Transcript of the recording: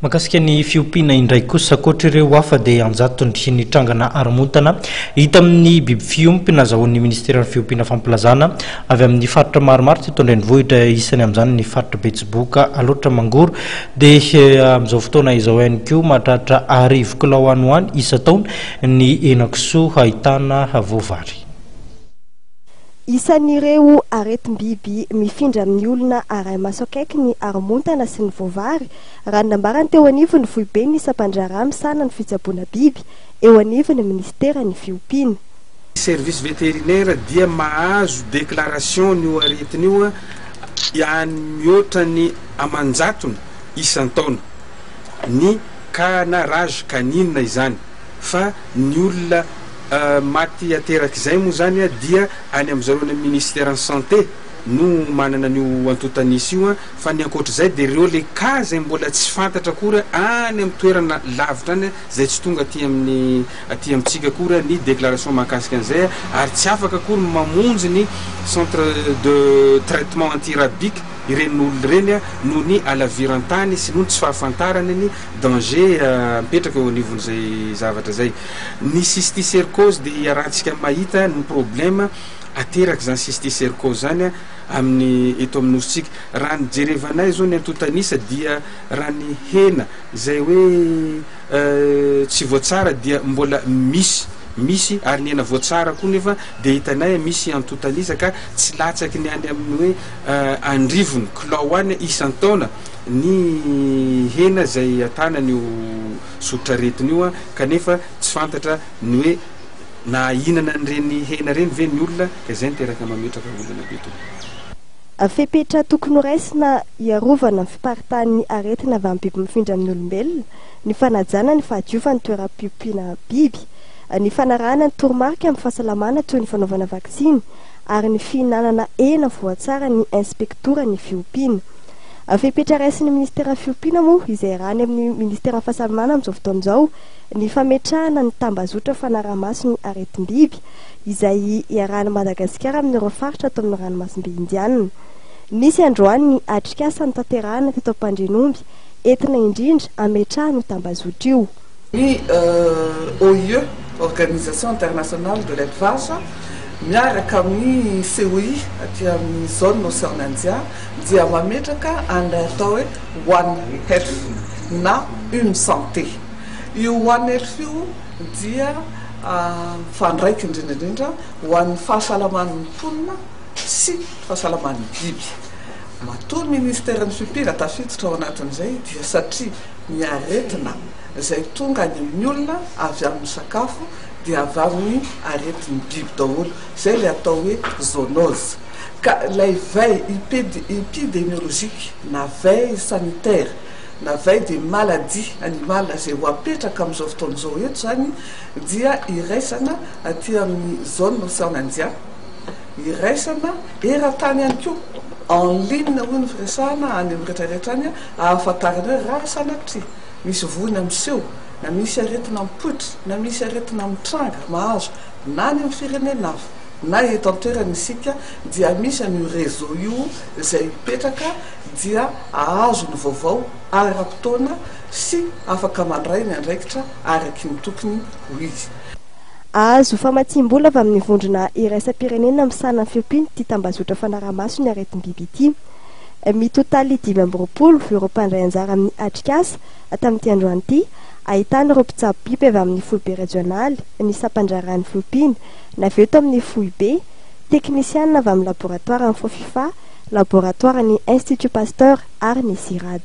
Mahakasika ny fiompiana indray kosa, ankoatra ireo hafa dia an-jatony ny trangana haromontana hita amin'ny biby fiompy nazahoan'ny Ministeran'ny Fiompiana fampilazana avy amin'ny faritra maromaro teto an-drenivohitra, isany amin'izany ny faritra Betsiboka, Alaotra Mangoro dia amin'izao fotoana izao ihany koa mahatratra arivo kilao any ho any isan-taona ny henakisoa ahitana voavary. Isan'ireo aretim-biby mifindra amin'ny olona arahi-maso akaiky ny haromontana sy ny voavary, raha ny nambarany teo anivon'ny foiben'ny sampandraharaha misahana ny fitsaboana biby eo anivon'ny minisiteran'ny fiompiana. Ny service vétérinaire dia mahazo déclaration an'io aretina io any mihoatra ny aman-jatony isan-taona, ny cas na rage canine izany. fa ny olona maty aterak'izay moa izany dia any amin'ny zareo any amin'ny Ministeran'ny Santé no manana an'io antontan'isa io fa ny ankoatr'izay dia ireo le cas izay mbola tsy fantatra akory any amin'ny toerana lavitra any izay tsy tonga aty amin'ny aty amintsika akory ny déclaration mahakasika an'izay ary tsy afaka akory ny mamonjy ny centre de traitement anti-rabique ireny olona ireny noho ny halaviran-tany sy noho ny tsy fahafantarany ny Danger mipetraka eo anivon'izay zavatra izay. Ny cysticercose dia iarahantsika mahita ny problème aterak'izany cysticercose izany amin'ny eto amin'ny nosintsika. Raha ny jerevanay izao ny antontan'isa dia raha ny hena izay hoe tsy voatsara dia mbola misy, misy ary ny hena voatsara koa nefa dia hitanay misy antontan'isa ka tsy latsaky ny any amin'ny hoe andrivony, kilao any isan-taona. ny hena izay atanany io soritr'aretina io kanefa tsy fantatra ny hoe nahahinana an'ireny hena ireny ve ny olona ka izay niteraka mametraka olana be tokoa. Fepetra tokony ho raisina hiarovana ny fiparitahan'ny aretina avy amin'ny biby mifindra amin'ny olombelona ny fanajana ny fahadiofan'ny toeram-piompiana biby, ny fanarahana ny toromarika amin'ny fahasalamana toy ny fanaovana vaksiny ary ny fihinanana hena voatsara ny inspektoran'ny fiompiana. Fepetra raisin'ny minisiteran'ny fiompiana moa izay iarahany amin'ny minisiteran'ny fahasalamana amin'izao fotoana izao ny fametrahana ny tambazotra fanaraha-maso ny aretim-biby izay iarahan'i Madagasikara amin'ireo faritra ato amin'ny ranomasimbe Indianina. Nisy androany ny atrikasa notanterahina teto Ampandrianomby entina indrindra hametrahana io tambazotra io. Ny OIE, Organisation Internationale de l'Elevage, miaraka amin'ny COI aty amin'ny zone Ocean Indien dia mametraka an'ilay atao hoe One Health na Une Santé. Io One Health io dia mifandraika indrindra indrindra ho an'ny fahasalaman'ny mponina sy fahasalaman'ny biby. Matoa ny Ministeran'ny Fipira tafiditra ao anatin'izay dia satria ny aretina izay tonga any amin'ny olona avy amin'ny sakafo dia avy amin'ny aretin'ny biby daholo, izay ilay atao hoe zoonose. ka ilay veille epidemiologique na veille sanitaire na veille des maladies animales izay ho apetraka amin'izao fotoana izao eto izany dia iraisana aty amin'ny zone Océan Indien, iraisana eran-tany ihany koa, en ligne hoy ny firesahana any amin'ny rehetra rehetra any ahafantarana hoe raha sanatria misy voina miseho na misy aretina mipoitra na misy aretina mitranga mahazo na any amin'ny firenena hafa. na eto an-toerana isika dia misy an'io réseau io izay mipetraka dia ahazo ny vaovao ara-potoana sy afaka mandray ny andraikitra araky ny tokony ho izy. Ahazo famatsiam-bola avy amin'ny vondrona iraisam-pirenena misahana ny fiompian'ity tambazotra fanaraha-maso ny aretim-biby ity. Mitotaly dimy amby roapolo ireo mpandray anjara amin'ny atrikasa tamin'ity androany ity, ahitana ireo mpitsabo biby avy amin'ny foibe rejionaly, ny sampandraharahan'ny fiompiana, na avy eo tao amin'ny foibe, teknisianina avy amin'ny laboratoaran'ny Fofifa, laboratoaran'ny Institut Pasteur ary ny CIRAD.